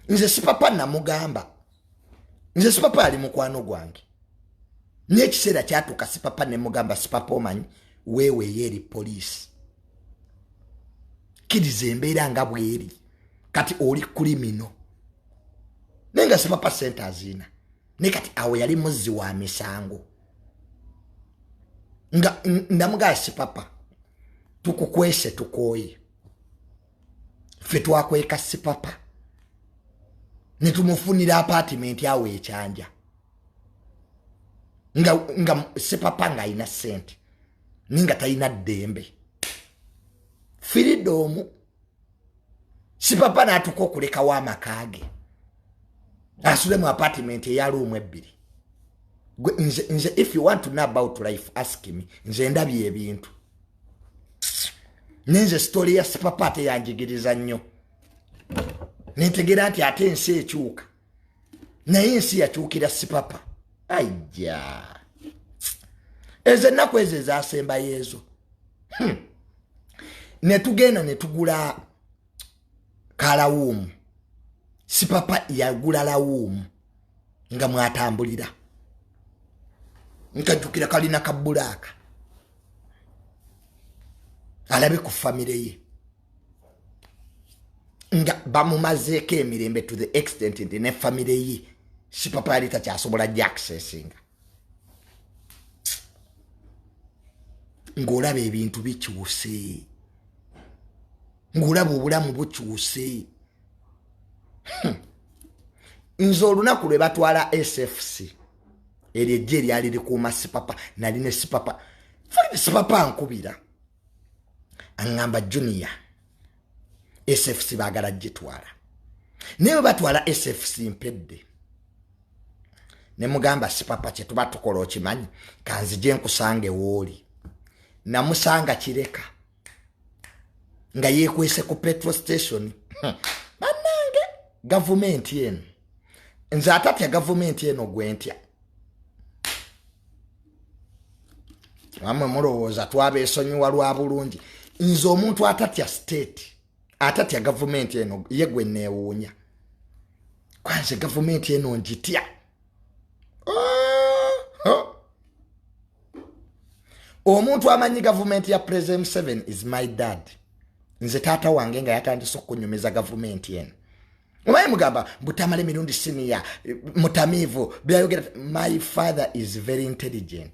nze sipapa namugamba nze sipapa ali mukwano gwange naye ekiseera kyatuuka sipapa nemugamba sipapa omanyi weeweeyo eri poliisi kkiriza embeera nga bweri kati oli kulimino naye nga sipapa sente aziina naye kati awo yali muzzi wa misango nga ndamugaya sipapa tukukwese tukooye ffe twakweka sipapa ne tumufunira apaatimenti awo ekyanja nga, nga sipapa ng'alina ssente naye nga talina ddembe firida omu sipapa n'atuka okulekawo amaka ge asule mu apaatimenti eyaluumu ebbiri nze if you want to know about life ask me nze ndabye ebintu nenze sitole ya sipapa teyanjigiriza nnyo nentegera nti ate ensi ekyuka naye ensi yakyukira sipapa aija ezo ennaku ezo ezasembayo ezo hmm. netugenda netugula kalawuumu sipapa yagula lawuumu nga mwatambulira nkajjukira kalina kabbulaaka alabe ku famire ye nga bamumazeeko emirembe to the extent nti ne famire ye sipapa yali takyasobola jaccessinga ng'olaba ebintu bikyuse ng'olaba obulamu bukyuse hmm. nze olunaku lwe batwala sfc eryo ejja eryali likuuma sipapa nali ne sipapa sipapa nkubira aŋŋamba junior sfc baagala gitwala naye bwe batwala sfc mpedde ne mugamba sipapa kye tuba tukola okimanyi kanzije nkusanga ewooli namusanga kireka nga yeekwese ku petro station banange gavumenti eno nze atatya gavumenti eno gwentya amwe mulowooza twabesonyiwa lwa bulungi nze omuntu atatya state atatya gavumenti eno ye gwe neewuunya kwanze gavumenti eno ngitya oh, oh. omuntu amanyi gavumenti ya president museven is my dad nze taata wange nga yatandise okunyumiza gavumenti eno obaye mugamba butamale mirundi siniya mutamiivu byayogera my father is very intelligent